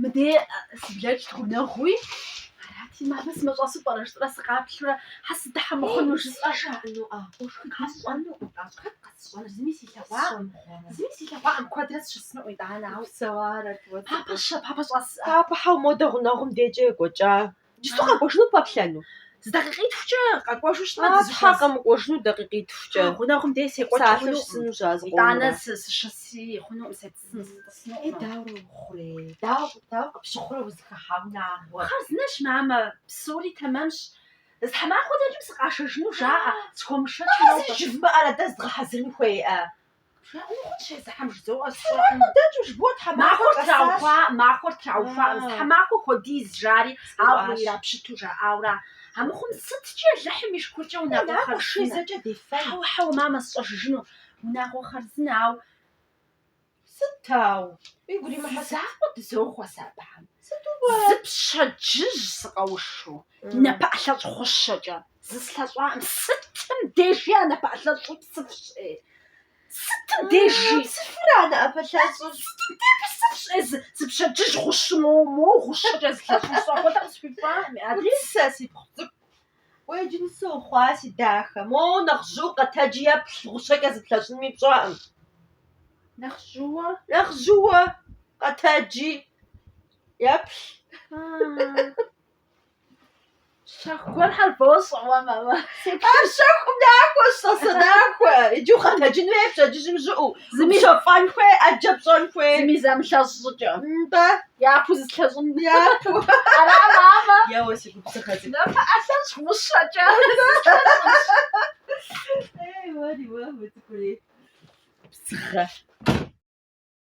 Мыдей сыблэкӏт гъунэгъуи, арати, мамэ сымыщӏэсу пӏэрэ жысӏэрэ сыкъаплъурэ, хьэ сыдыхьэ мыхъуну жысӏэ жаӏэнуӏэ? Къэсщӏэнуӏым, зыми силъэгъуакъым, зыми силъэгъуакъым, куэдрэ сыщысынуӏым, итӏанэ, ауэ. Папэ щэ, папэ щӏэсӏэ. Папэ хьэу модэ гъунэгъум декӏэ екӏуэкӏа Джыцу къэкӏуэжыну пэплъэну? Зы дакъикъитхукӏэ къэкӏуэжу щытмэ, А, дызыхэз- Тхьэ, къэмыкӏуэжыну дакъикъитхукӏэ. А, гъунэгъум дей секӏуэкӏ Псалъэу хъунукъым. щысынущ ар зыкъомрэ. Итӏанэ сы- сыщыси хъунукъым, се- сын- сытӏысынукъым. Е, дауэ хъурей? Дауэ, дауэ къыпщыхъурэ узыхыхьа унагъуэр? Хъарзынэщ, мамэ, псори тэмэмщ. Зы тхьэмахуэ дэкӏым сыкъашэжыну жаӏэ, схуэмышэчу Ахьэ, зи жумыӏэрэ дэ зыдгъэхьэзырын хуейӏэ? Махуэр траухуакъым, зы тхьэмахуэ хуэдиз, жари, ауэ ирапщыту жаӏауэра? Амыхъум сыткӏи Алыхьым и шыкуркӏэ унагъуэ хъарзынэ? Хьэуэ, хьэуэ, мамэ, сщӏэжыжыну унагъуэ хъарзынэ, ауэ… Сыт ауэ? Игу римыхьэ… Си закъуэ дызохъуэ сэ абыхэм. Сыту-уэ? Зы пщэдджыжь сыкъэушу, напэӏэлъэщӏ гъущэкӏэ. зыслъэщӏаӏым сытым дежи а напэӏэлъэщӏыр псыфщи, сытым дежи. Псыфыр а напэӏэлъэщӏыр, сытым дежи псыфщи, зы пщэдджыжь гъущу моуэ, моуэ гъущэкӏэ зыслъэщӏу сфӏэхуэдэ къысхуихуаӏым, ади. Сэ си пхъу цӏыкӏу уэ иджы нысэ ухъуа, си дахэ, моуэ нэхъ жьу къэтэджи еплъ, гъущэкӏэ зыплъэщӏынми пщӏэкъым. Нэхъ жьууэ? Нэхъ жьууэ къэтэджи еплъ. Щэху гуэрхэр бощӏэ уэ, мамэ. Ар щэхуӏым нахуэщ, сэ сынахуэ. Иджы укъэтэджын хуей пщэдджыжьым жьыуэ. Зыми упщэфӏэн хуей, ӏэджэ пщӏэн хуей. Зыми зимылъэщӏ щӏыкӏэ. Нтӏэ. Япэу зыслъэщӏын. Япэу. Ара, мамэ? Еуэ, си губзыгъэ цӏыкӏу. Напэӏэлъэщӏ гъущэкӏэ. Ей, уэри, уэ, уи цӏыкӏури. Бзыгъэ.